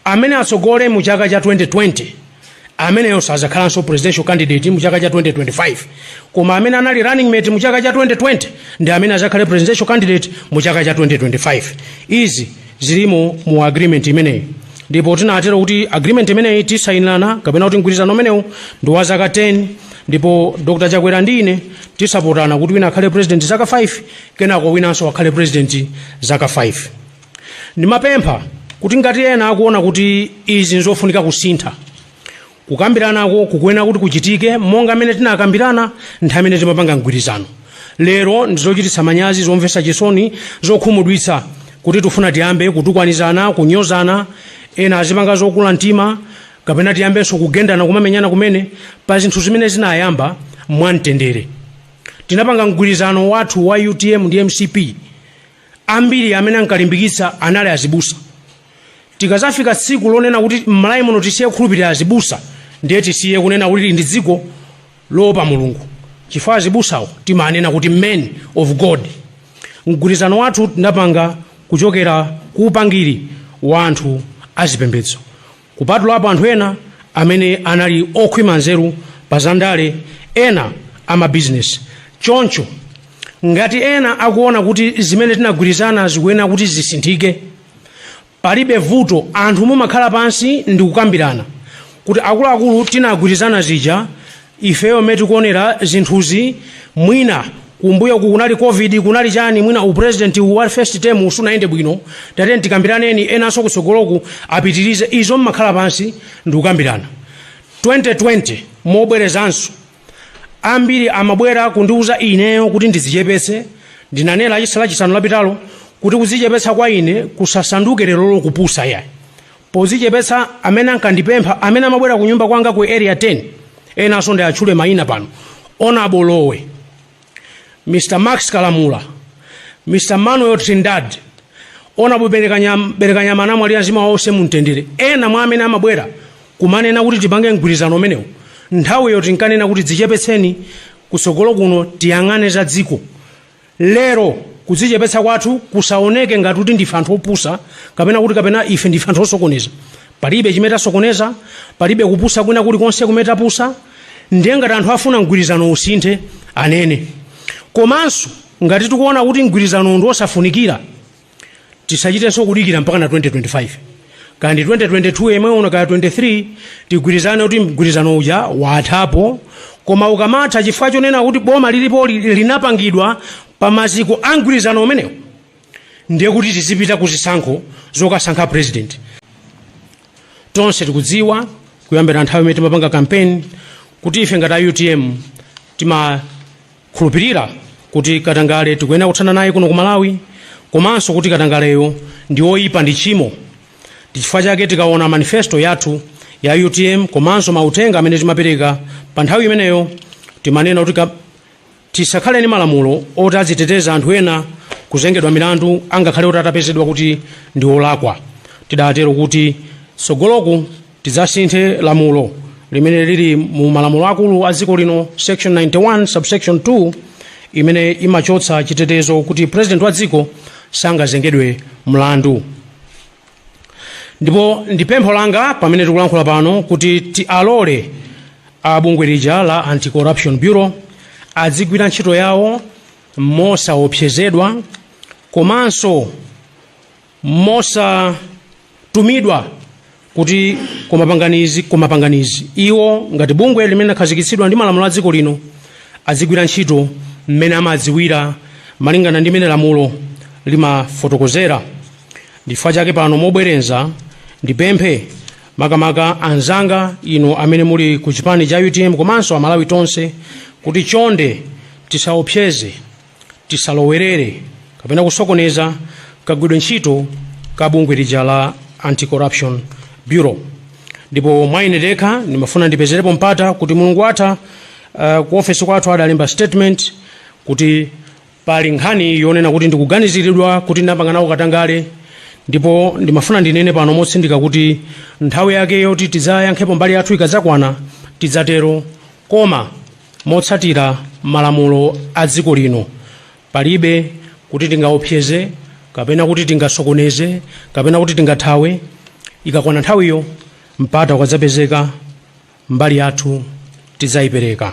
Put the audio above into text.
Amene atsogole mu chaka cha 2020 ameneyo sazakhalanso presidential candidate mu chaka cha 2025 koma amene anali running mate mu chaka cha 2020 ndi amene azakhale presidential candidate mu chaka cha 2025 izi zilimo mu agreement imeneyi ndipo tinatero kuti agreement imeneyi tinasayinirana kapena kuti mgwirizano umenewu ndi wa zaka 10 ndipo dr chakwera ndi ine tidzapatsana kuti wina akhale president zaka 5 kenako winanso akhale president zaka 5 Ndimapempha kuti ngati ena akuona kuti izi nzofunika kusintha, kukambiranako kukuyenera kuti kuchitike monga mmene tinakambirana nthawi imene timapanga mgwirizano. Lero ndi zochititsa manyazi, zomvetsa chisoni, zokhumudwitsa kuti tifuna tiyambe kutukwanizana, kunyozana, ena azipanga zokula mtima kapena tiyambenso kugendana kumamenyana kumene pa zinthu zimene zinayamba mwamtendere. Tinapanga mgwirizano wathu wa utm ndi mcp. Ambiri amene ankalimbikitsa anali azibusa. Tikazafika tsiku lonena kuti m'Malawi muno tisiye kukhulupirira azibusa, ndiye tisiye kunena kuti ndi dziko loopa Mulungu chifukwa azibusawo timanena kuti men of God. Mgwirizano wathu tinapanga kuchokera ku upangiri wa anthu azipembedzo. Kupatulapo anthu ena amene anali okhwima nzeru pa zandale, ena amabizinesi. Choncho, ngati ena akuona kuti zimene tinagwirizana zikuyenera kuti zisinthike, palibe vuto, anthu mumakhala pansi ndi kukambirana kuti akuluakulu tinagwirizana zija Ifeyo mmene tikuonera zinthuzi mwina kumbuyoku kunali Covid kunali chani mwina u president wa first term uwu sunayende bwino tatiyeni tikambiraneni enanso kutsogoloku apitirize izo mmakhala pansi ndikukambirana 2020 mobwerezanso ambiri amabwera kundiuza ineyo kuti ndidzichepetse ndinanena lachisa lachisanu lapitalo kuti kudzichepetsa kwa ine kusasanduke lero lo kupusa yayi Pozichepetsa amene ankandipempha amene amabwera kunyumba kwanga ku Area 10 enanso ndiatchule maina pano Hon. Lowe, Mr. Max Kalamula, Mr. Manuel Trindad, Hon. Belekanyama anamwalira mzimu wawo uuse mu mtendere. Ena mwa amene amabwera kumanena kuti tipange mgwirizano umenewu nthawiyo tinkanena kuti dzichepetseni kutsogolo kuno tiyang'ane za dziko. Lero, kudzichepetsa kwathu kusaoneke ngati kuti ndife anthu opusa, kapena kuti kapena ife ndife anthu osokoneza. Palibe chimene tasokoneza, palibe kupusa kwina kuli konse kumene tapusa, ndiye ngati anthu afuna mgwirizano usinthe, anene. Komanso, ngati tikuona kuti mgwirizanowu ndi wosafunikira, tisachitenso kudikira mpakana 2025 kaya ndi 2022 yemwe uno kaya 23 tigwirizane kuti mgwirizano uja wathapo koma ukamatha chifukwa chonena kuti boma lilipo li- linapangidwa pa maziko a mgwirizano umenewo ndiye kuti tizipita ku zisankho zokasankha president tonse tikudziwa kuyambira nthawi imene timapanga kampeni kuti ife ngati a utm tima khulupirira kuti katangale tikuyenera kuthana naye kuno ku malawi komanso kuti katangaleyo ndi oyipa ndi tchimo ndichifukwa chake tikaona manifesto yathu ya utm komanso mauthenga amene timapereka pa nthawi imeneyo timanena kuti ka- tisakhale ndi malamulo oti aziteteza anthu ena kuzengedwa milandu angakhale oti atapezedwa kuti ndi olakwa tidatero kuti tsogoloku tidzasinthe lamulo limene lili mu malamulo akulu a dziko lino section 91 subsection 2 imene imachotsa chitetezo kuti president wa dziko sangazengedwe mlandu ndipo ndi pempho langa pamene tikulankhula pano kuti tialole a bungwe lija la anti-corruption bureau adzigwira ntchito yawo mosaopsezedwa komanso mosatumidwa kuti koma panganizi koma panganizi iwo ngati bungwe limene lakhazikitsidwa ndi malamulo a dziko lino azigwira ntchito mmene amadziwira malingana ndi mmene lamulo limafotokozera ndifukwa chake pano mobwerenza ndipemphe makamaka anzanga inu amene muli ku chipani cha utm komanso amalawi tonse kuti chonde tisaopseze tisalowerere kapena kusokoneza kagwidwe ntchito ka bungwe lija la anti-corruption bureau ndipo mwa ine dekha ndimafuna ndipezerepo mpata kuti mulungu watha uh, ku ofesi kwathu adalemba statement kuti pali nkhani yonena kuti ndikuganiziridwa kuti ndinapanga nawo katangale ndipo ndimafuna ndinene pano motsindika kuti nthawi yake yoti tidzayankhepo mbali yathu ikadzakwana tidzatero koma Motsatira malamulo a dziko lino, palibe kuti tingaopseze kapena kuti tingasokoneze kapena kuti tingathawe. Ikakwana nthawiyo, mpata ukadzapezeka, mbali yathu tidzaipereka.